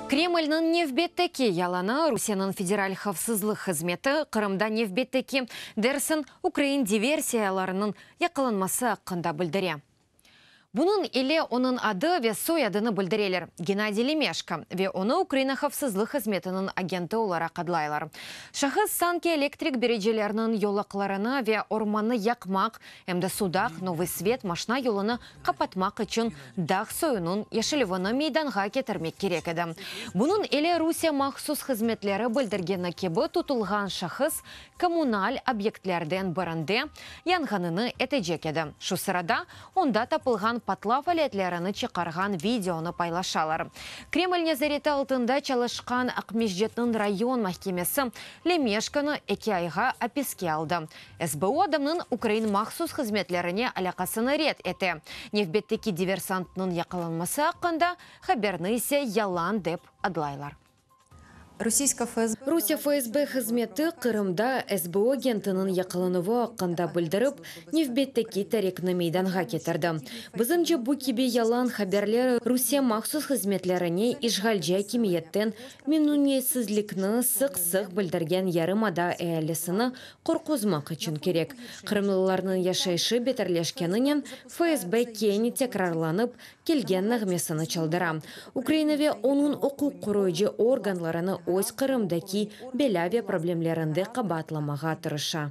Kremlniñ nevbetteki yalanı, Rusiyeniñ Federal havfsızlıq hızmeti Qırımda nevbetteki Dersin ukrain diversiyalarınıñ yaqalanması aqqında bildire. Bunıñ ile onıñ adı ve soyadını bildireler, Gennadiy Lemeşko, ve onı Ukraina havfsızlıq hızmetiniñ agenti olaraq adlaylar. Şahıs sanki elektrik biricelerniñ yolaqlarını ve ormannı yaqmaq, em de Sudaq, Novıy Svet maşna yolunı qapatmaq içün dağ soyunıñ yeşilüvini meydanğa ketirmek kerek edi. Bunıñ ile Rusiye mahsus hızmetleri bildirgeni kibi tutulğan şahıs kommunal obyektlerden birinde yanğanını etecek edi. Şu sırada onda tapılğan patlav aletlerini çıqarğan videonı paylaşalar. Kreml nezareti altında çalışqan Aqmescitniñ rayon mahkemesi Lemeşkanı eki ayğa apiske aldı. SBU adamnıñ ukrain mahsus hızmetlerine alâqasını red ete, nevbetteki diversantnıñ yaqalanması aqqında haberni ise yalan dep adlaylar. Rusiye FSB hızmeti Qırımda SBU agentiniñ yaqalanuvı aqqında bildirip, nevbetteki tarikni meydanğa ketirdi. Bizimce bu kibi yalan haberler Rusiye mahsus hızmetlerine işğalci akimiyetten memnüniyetsizlikni sıq-sıq bildirgen yarımada ealisini Qorquzmaq içün kerek. Qırımlılarnıñ yaşayışı beterleşkeninen, FSB kene tekrarlanıp kelgen nağmesini çaldıra. Ukraina ve onıñ uquq qoruyıcı organlarını öz Qırımdaki belâ ve problemlerinde qabaatlamağa tırışa.